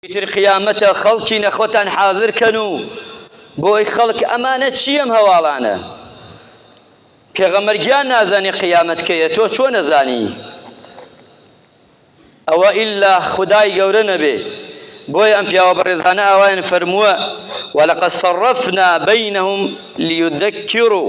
ئیتر قیامەتە خەڵکی نەخۆتان حازر کەن و بۆی خەڵک ئەمانە چی ئەم هەواڵانە پێغەمبەر گیان نازانی قیامەت کەیە تۆ چۆن نەزانی ئەوە ئیلا خدای گەورە نەبێ بۆیە ئەم پیاوە بەڕێزانە ئاوایان فەرمووە ولقد صرفنا بينهم ليذكروا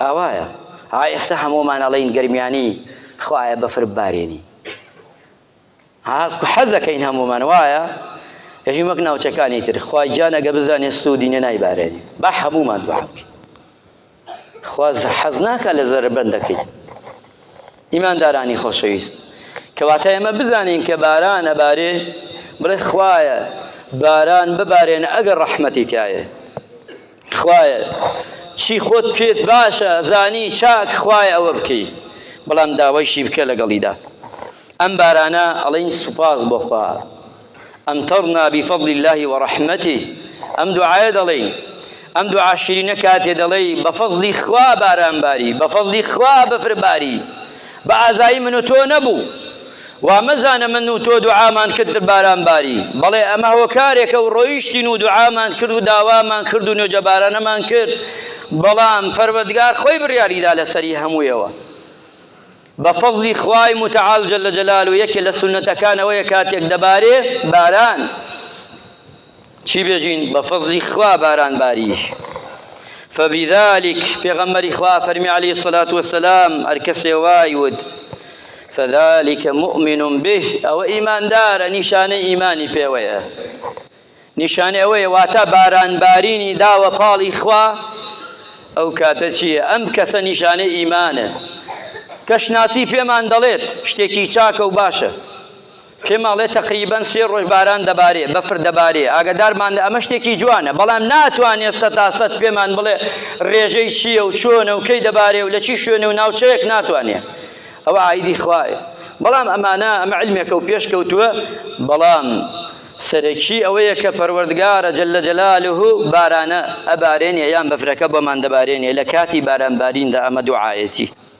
ئاوایە ها ئێستا هەموومان ئەڵێین گەرمیانی خوایە بەفر ببارێنی ها حەزەکەین هەموومان وایە یەژی وەک ناوچەکانی تر خوای گیان ئەگە بزانێت سوودی نە نایبارێنی با هەموومان دوعا بکەین خواز حەز ناکە لە زەربەندەکەی ئیماندارانی خۆشەویست کەواتە ئێمە بزانین کە باران ئەبارێ بڵێ خوایە باران ببارێن ئەگەر ڕەحمەتی تایە خوایە چی خۆت پێت باشە زانی چاک خوایە ئەوە بکەی بەڵام داوایشی بکە لەگەڵیدا ئەم بارانە ئەڵین سوپاس بۆ خوا ئەمتەڕنا بفضل الله ورحمته ئەم دوعایە دەڵین ئەم دوعا شیرینە کاتێ دەڵێی بەفەزلی خوا باران باری بەفەزلی خوا بەفر باری بە ئازایی من و تۆ نەبوو. وا مەزانە من و تۆ دوعامان کرد باران باری. بەڵێ ئەمە هۆکارێکە و ڕۆیشتین و دوعامان کرد و داوامان کرد و نوێژەبارانەمان کرد، بەڵام پەروەردگار خۆی بڕیاری دا لەسەری هەموویەوە. بە فەزڵی خوای متعال جل جلالە یەکێ لە سوننەتەکان ئەوەیە کاتێک دەبارێ باران چی بێژین بە فەزلی خوا باران باری فبذلك پێغەمبەری خوا فەرمی علی الصلاة والسلام هەر کەسێ وای وت فذلك مؤمن به ئەوە ئیماندارە نیشانەی ئیمانی پێوەیە نیشانەی ئەوەیە واتە بارانبارینی داوە پاڵی خوا ئەو کاتە چییە ئەم کەسە نیشانەی ئیمانە کەشناسی پێمان دەڵێت شتێکی چاکە و باشە پێم ئەڵێ تەقریبەن سێ ڕۆژ باران دەبارێ بەفر دەبارێ ئاگەدارمان لە ئەمە شتێکی جوانە بەڵام ناتوانێت سەتاسەت پێمان بڵێ ڕێژەی چییە و چۆنە و کەی دەبارێ و لە چی شوێن و ناوچەیەک ناتوانێت ئەوە عیدی خوایە بەڵام ئەمانە ئەمە علمێکە و پێشکەوتووە بەڵام سەرەکی ئەوەیە کە پەروەردگارە جل لە جەلالوه بارانە ئەبارێنێ یان بەفرەکە بۆمان دەبارێنێ لە کاتی بارانباریندا ئەمە دوعاەتی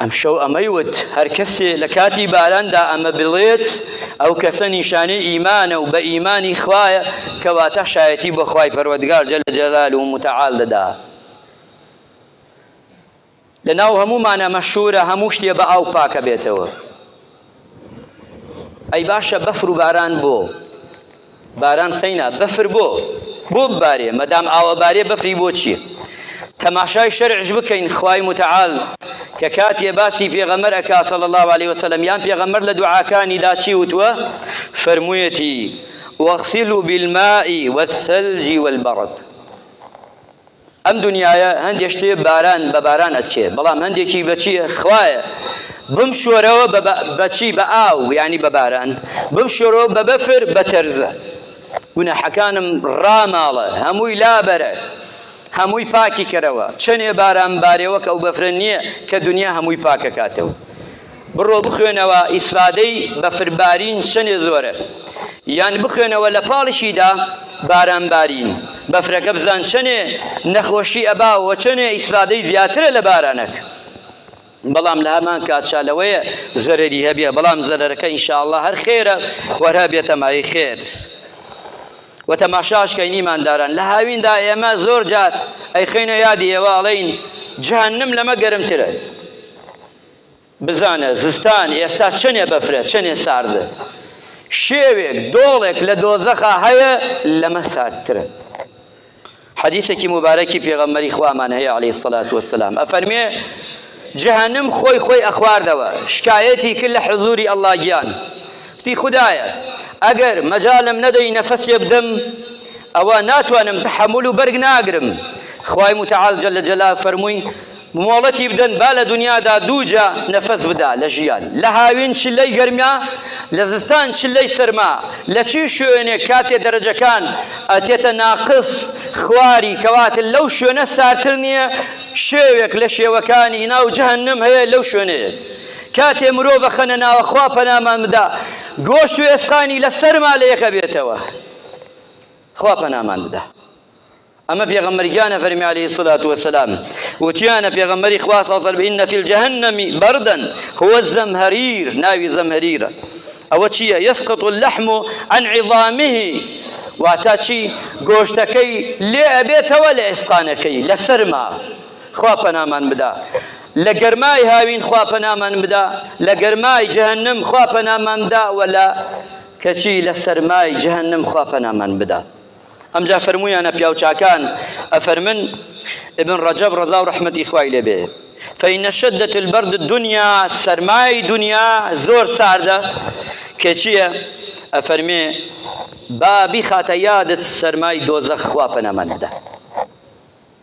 ئەمشەو ئەمەی وت، هەر کەسێ لە کاتی باراندا ئەمە بڵێت، ئەو کەسە نیشانەی ئیمانە و بە ئیمانی خوایە، کەواتە شایەتی بۆ خوای پەروەردگار جل جلاله و متعال دەدا. لەناو هەموومانا مەشهوورە هەموو شتێ بە ئاو پاکەبێتەوە. ئەی باشە بەفر و باران بۆ باران قەینا بەفر بۆ بۆ بارێ مەدام ئاوە بارێ بەفری بۆ چیە تەماشای شەرعش بکەین خوای متعال کە کاتێ باسی پێغەمەر ئەکا صلی الله عليه وسلم یان پێغەمەر لە دوعاکانی دا چی وتووە فەرموویەتی واغسلوا بالماء والثلج والبرد ئەم دنیایە هەندێ شتێ باران بە باران ئەچێ بەڵام هەندێکی بەچیە خوایە بم شۆرەوە بەچی بە ئاو ینی بە باران بم شۆرەوە بە بەفر بە تەرزە گوناحەکانم ڕاماڵە هەمووی لابەرە هەمووی پاکی کەرەوە چەنێ باران بارێوەک ئەو بەفرە نییە کە دنیا هەمووی پاکەکاتەوە بڕۆ بخوێنەوە ئیسفادەی بەفربارین چەنێ زۆرە یان بخوێنەوە لە پاڵشیدا باران بارین بەفرەکە بزان چەنێ نەخۆشی ئەبا و چەنێ ئیسفادەی زیاترە لە بارانەک بەڵام لە هەمان کاتشا لەوەیە زەرری هەبێ بەڵام زەرەرەکە ئینشاءله هەر خێرە وەرە بێتەمایی خێر و تەماشاشکەین ئیمانداران لە هاویندا ئێمە زۆر جار ئەیخینە یادی ئێوە ئەڵین جهنم لەمە گەرمترە بزانە زستان ئێستا چەنێ بەفرە چەنێ ساردە شێوێک دۆڵێک لە دۆزەخا هەیە لەمە ساردترە حەدیثێکی مبارەکی پێغەمەری خوامان هەیە عليه سەلات وسلام ئەفەرمێ جەهنم خۆی خۆی ئەخواردەوە شکایەتی کرد لە حزوری ئەللا گیان تی خدایە ئەگەر مەجالم نەدەی نەفەسێ بدەم ئەوە ناتوانم تحمل و بەرگ ناگرم خوای متعال جل جلال فەرمووی مۆڵەتی بدەن با لە دونیادا دووجا نەفەس بدا لە ژیان، لە هاوین چ لەی گەرما، لە زستان چ لەی سەرما، لە چی شوێنێک کاتێ دەرەجەکان ئەچێتە ناقس خواری کەواتە لەو شوێنە ساردتر نییە، شێوێک لە شێوەکانی ناو جەهەنم هەیە لەو شوێنەیە کاتێ مرۆڤ ئەخەنە ناوە خوا پەنامان بدا گۆشت و ئێسقانی لە سەرما لە یەک ئەبێتەوە خوا پەنامان بدا. ئەمە پێغەمبەر گیان ئەفەرمی علیە سلات وسلام وتیانە پێغەمبەری خوا ساڵ فەرمی ان فی الجهنم بردا هو الزمهریر ناوی زەمهریرە ئەوە چییە یسقط اللحم عن عظامه واتا چی گۆشتەکەی لێ ئەبێتەوە لە ئێسقانەکەی لە سەرما خوا پەنامان بدا لە گەرمای هاوین خوا پەنامان بدا لە گەرمای جەهنم خوا پەنامان بدا وە لە کەچی لە سەرمای جەهنم خوا پەنامان بدا ئەمجا فەرموویانە پیاوچاکان ئەفەرمن، ابن رجب رضا و رحمەتی خوای لێ بێ، فان شدت البرد الدنیا سەرمای دنیا زۆر ساردە، کێچیە؟ ئەفەرمێ، با بیخاتە یادت سەرمای دۆزەخ خوا پەنامانت دا.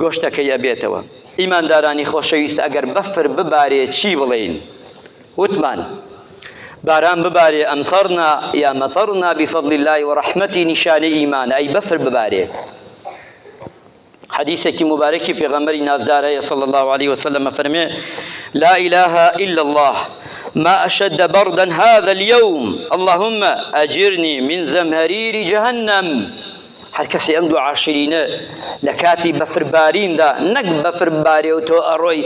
گۆشتەکەی ئەبێتەوە. ئیماندارانی خۆشەویست ئەگەر بەفر ببارێ چی بڵێین؟ وتمان، باران ببارێ امطرنا یا مطرنا بفضل اللە و رحمته نیشانەی ئیمانە، ئەی بەفر ببارێ؟ حدیثێکی مبارەکی پێغەمبەری نازدار هەیە صلی الله علیه وسلم ئەفەرمێ لا اله الا الله ما اشد بردا هذا اليوم اللهم اجرني من زمهرير جهنم هەر کەسی ئەم دوو عاشرینە لە کاتی بەفرباریندا نەک بەفر بارێ و تۆ ئەڕۆی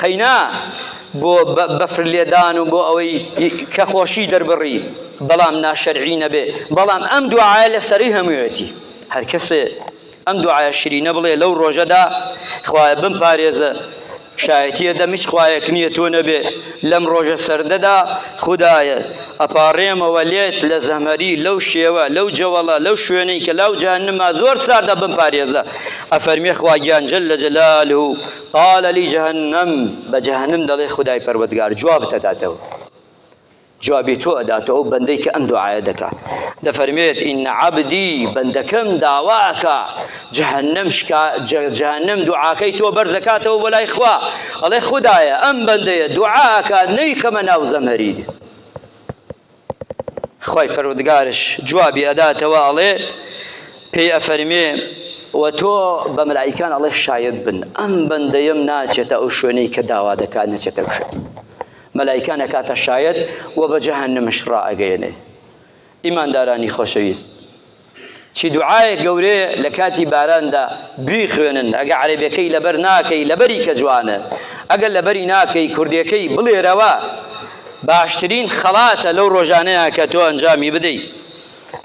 قەینا بۆ بەفر لێدان و بۆ ئەوەی کە خۆشی دەربڕی بەڵام ناشەرعی نەبێ بەڵام ئەم دوعاە لە سەری هەموویەتی هەر کەسێ ئەم دوعاە شرینە بڵێ لەو ڕۆژەدا خوایە بم پارێزە شایەتیە دەم هیچ خوایەک نییە تۆ نەبێ لەم ڕۆژە سەردەدا خودایە ئەپارێمەوە لێت لە زەمەری لەو شێوە لەو جەوەڵە لەو شوێنەی کە لاو جەهەنما زۆر ساردە بم پارێزە ئەفەرمێ خواگیان جل لە جەلال و قالە لی جەهەنم بە جەهەنم دەڵێ خودای پەروەردگار جواب دەداتەوە جوابی تۆ ئەداتەوە ئەو بەندەی کە ئەم دوعایە دەکا دەفەرموێت ئین عەبدی بەندەکەم داوا ئەکا جەهەنەم شکا جەهەنەم دوعاکەی تۆ بەرزەکاتەوە بۆ لای خوا ئەڵێ خودایە ئەم بەندەیە دوعا ئەکا نەیخەمە ناو زەمهەریر خوای پەروەردگارش جوابی ئەداتەوە ئەڵێ پێی ئەفەرمێ و تۆ بە ملایکان ئەڵێ شاید بن ئەم بەندەیەم ناچێتە ئەو شوێنەی کە داوا دەکات نەچێتە شوێن مەلایکان ئەکاتە شایەت و بە جەهەنمش ڕائەگەیەنێ ئیماندارانی خۆشەویست چی دوعاە گەورێ لە کاتی باراندا بیخوێنن ئەگە عەربەکەی لەبەر ناکەی لەبەری کە جوانە ئەگەر لەبەری ناکەی کوردەکەی بڵێرەوە باشترین خەڵاتە لەو ڕۆژانەیە کە تۆ ئەنجامی بدەیت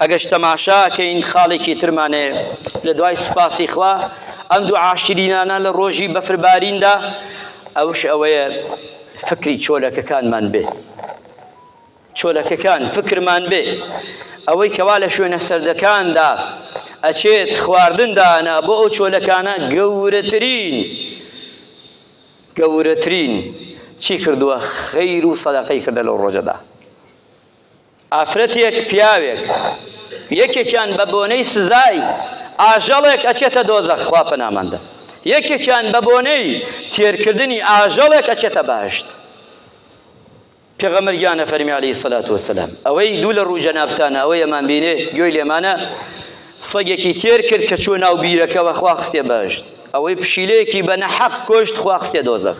ئەگەرچ تەماشا کەین خاڵێکی ترمان هەیە لە دوای سوپاسی خوا ئەم دوو عاشرینانە لە ڕۆژی بەفرباریندا ئەوش ئەوەیە فکری چۆلەکەکانمان بێ چۆلەکەکان فکرمان بێ ئەوەی کەوا لە شوێنە سەردەکاندا ئەچێت خواردندانە بۆ ئەو چۆلەکانە گەورەترین گەورەترین چی کردووە خەیر و سەدەقەی کردە لەو ڕۆژەدا ئافرەتێک پیاوێک یەکێکیان بە بۆنەی سزای ئاژەڵێک ئەچێتە دۆزەخ خوا پەنامان دا یەکێکیان بە بۆنەی تێرکردنی ئاژەڵێک ئەچێتە بەهەشت پێغەمبەر گیان ئەفەرمی عەلەیهی سەلات وەسەلام ئەوەی دوو لە ڕوو جەنابتانە ئەوەی ئەمان بینێ گوێی لێمانە سەگێکی تێر کرد کە چوە ناو بیرەکەوە خوا خستێ بەهەشت ئەوەی پشیلەیەکی بە نەحەق کۆشت خوا خستێ دۆزەخ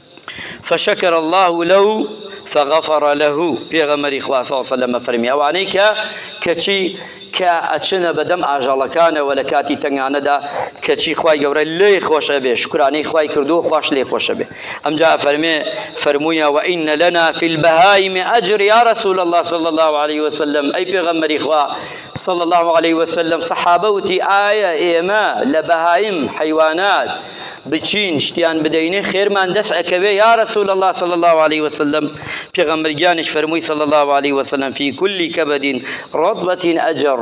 فشکر اللە لەو فغفر له پێغەمەری خوا صلی الله علیه و فەرمی ئەوانەی کە کەچی کە ئەچنە بەدەم ئاژەڵەکانەوە لە کاتی تەنگانەدا کەچی خوای گەورە لێ خۆشە بێ شکرانەی خوای کردو خوش لێ خۆشە بێ ئەمجا فەرمێ فەرموویە وئین لنا فی البهائم اجر یا رسول الله صلی الله علیه وسلم ئەی پێغەمبەری خوا صلی الله علیه وسلم صحابە وتی ئایا ئێمە لە بەهایم حیوانات بچین شتیان بدەینێ خێرمان دەست ئەکەوێ یا رسول الله صلی الله عليه وسلم پێغەمبەر گیانش فەرمووی صلی الله عليه وسلم فی کل کبد رطبة اجر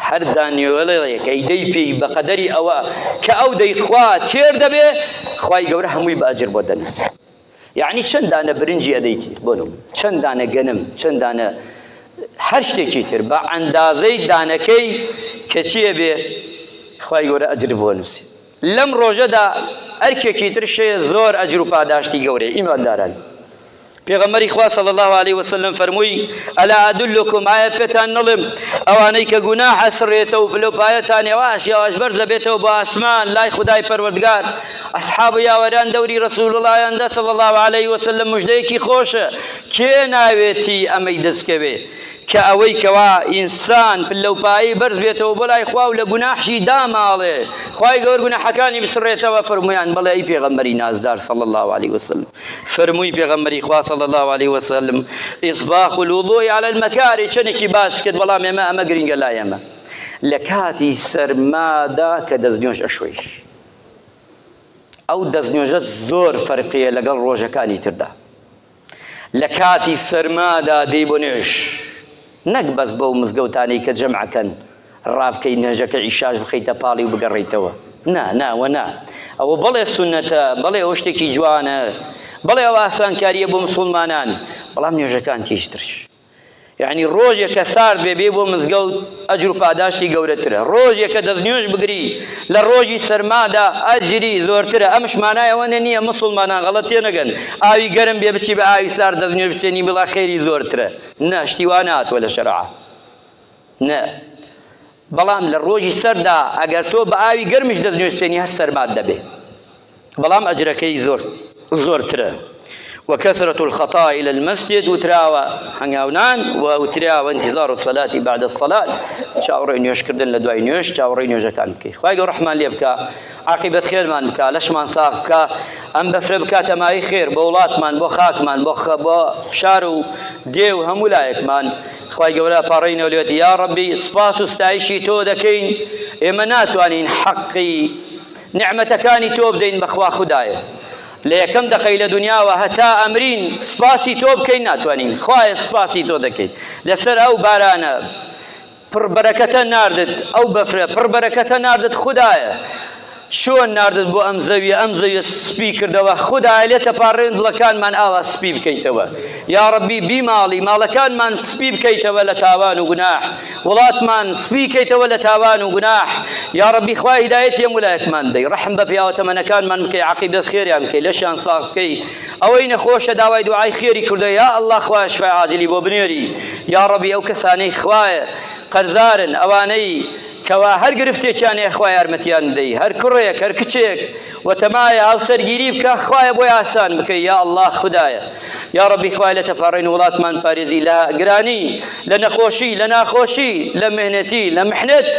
هەر دانیوێڵێک ئەی دەی پێی بە قەدەری ئەوە کە ئەو دەیخوا تێر دەبێ خوای گەورە هەمووی بە ئەجر بۆ دەنووسێ یەعنی چەند دانە برنجی ئەدەیت بۆ نم چەند دانە گەنم چەند دانە هەر شتێکی تر بە ئەندازەی دانەکەی کەچیە بێ خی گەورە ئەجر بۆ نووسی لەم ڕۆژەدا ئەرکێکی ترشێ زۆر ئەجر و پاداشتی گەورەی ئیمانداران پێغەمەری خوا صلی الله عليه وسلم فەرمووی ئەلا ئەدلکم ئایا پێتان نڵم ئەوانەی کە گوناحە سڕێتە و پلەپایەتان یەواش یەواش بەرزە بێتەوە بۆ ئاسمان لای خدای پەروەردگار ئەسحاب و یاوەران دەوری ڕەسووڵڵایان دا صلی اللە علیە وسلم مژدەیەکی خۆشە کێ ناوێتی ئەمەی دەستکەوێ کە ئەوەی کەوا ئینسان پلەوپایی بەرز بێتەوە بۆ لای خوا و لە گوناحشی داماڵێ خوای گەور گوناحەکانی بسڕێتەوە فەرموویان بەڵێ ئەی پێغەمبەری نازدار صلی اللە علیە وسلم فەرمووی پێغەمبەری خوا صلی اللە علیە وسلم ئیسباغ الوضوء علی المکاری چەندێکی باس کرد بەڵام ئێمە ئەمە گرینگە لای ئێمە لە کاتی سەرمادا کە دەستنوێژ ئەشۆی ئەو دەستنوێژە زۆر فەرقیە لەگەڵ ڕۆژەکانی تردا لە کاتی سەرمادا دەی بۆ نوێژ نەک بەس بەو مزگەوتانەی کە جەمعەکەن ڕابکەی نوێژەکە ئیشاش بخەیتە پاڵی و بگەڕیتەوە نا ناوە نا ئەوە بەڵێ سونەتە بەڵێ ئەو شتێکی جوانە بەڵێ ئەو ئاسانکاریە بۆ مسلمانان بەڵام نوێژەکان تیشترش یەعنی ڕۆژێکە سارد بێ بێی بۆ مزگەوت ئەجر و پاداشتی گەورەترە ڕۆژێکە دەست نوێژ بگری لە ڕۆژی سەرمادا ئەجری زۆرترە ئەمش مانای ئەوە نییە مسوڵمانان غەڵەت تێ نەگەن ئاوی گەرم بێ بچی بە ئاوی سارد دەست نوێژ بچێنی بڵا خێری زۆرترە نە شتی وا ناتوە لە شەرعا نە، بەڵام لە ڕۆژی سەردا ئەگەر تۆ بە ئاوی گەرمیش دەتنوێسێنی هەر سەرمات دەبێ، بەڵام ئەجرەکەی زۆر زۆرترە. وکثرة الخطاء الى المسجد وتراوە هەنگاونان و وتراوە انتظار الصلاة بعد الصلاة چاوەڕێی نوێژکردن لە دوای نوێژ چاوەڕێی نوێژەکان بکەی خوای گەورە ڕەحمان لێ بکا عاقبەت خێرمان بکا لەشمان ساغ بکا ئەم بەفرە بکاتە مای خێر بۆ وڵاتمان بۆ خاکمان بۆ خە بۆ شار و دێ و هەموو لایەکمان خوای گەورە پاڕێنەوە لێت یا ڕەبی سپاس و ستایشی تۆ دەکەین ئێمە ناتوانین حەقی نعمەتەکانی تۆ بدەین بەخوا خودایە لە یەکەم دەقەی لە دنیاوە هەتا ئەمرین سپاسی تۆ بکەین ناتوانین خوایە سپاسی تۆ دەکەیت لەسەر ئەو بارانە پڕبەرەکەتە ناردت ئەو بەفرە پڕبەرەکەتە ناردت خوددایە چۆن ناردت بۆ ئەم زەویە ئەم زەویە سپی کردەوە خودایە لێ تەپاڕێن دڵەکانمان ئاوا سپی بکەیتەوە یاڕەبی بیماڵی ماڵەکانمان سپی بکەیتەوە لە تاوان و گوناح وڵاتمان سپی کەیتەوە لە تاوان و گوناح یاڕەبی خوا هیدایەت یەم ولایەتمان دەی ڕحم بە پیاوە تەمەنەکانمان بکەی عقیبەت خێریان بکەی لەشیان ساغ بکەی ئەوەی نەخۆشە داوای دوعای خێری کردە یا الله خوای شفای عاجلی بۆ بنێری یاڕەبی ئەو کەسانەی خوایە قەرزارن ئەوانەی کوا هەر گرفتێکیان هەیە خوا یارمەتیان بدەی هەر کوڕێک هەر کچێک وتەمایە هاوسەرگیری بکە خوایە بۆی ئاسان بکەی یا الله خدایە یا ڕبی خوای لە تەپارڕین وڵاتمان پارێزی لە گرانی لە نەخۆشی لە ناخۆشی لە مهنەتی لە محنت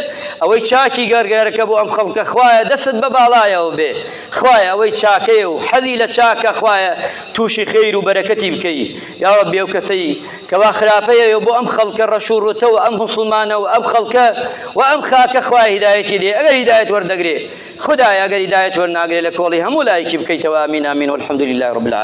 ئەوەی چاکی گەرگەرەکە بۆ ئەم خەڵکە خوایە دەست بە باڵایەوە بێ خوایە ئەوەی چاکەیە و حەزی لە چاکە خوایە تووشی خیر و بەرەکەتی بکەی یا ڕبی ئەو کەسەی کوا خراپەیە و بۆ ئەم خەڵکە ڕەش و ڕوتە و ئەم موسڵمانە و ئەم خەڵکە و ئەم خاکە خوای هیدایەتی دێ ئەگەر هیدایەت وەردەگرێ خودایە ئەگەر هیدایەت وەرناگرێ لە کۆڵی هەموو لایەکی بکەیتەوە ئامین ئامین والحمدللە رب العالمین.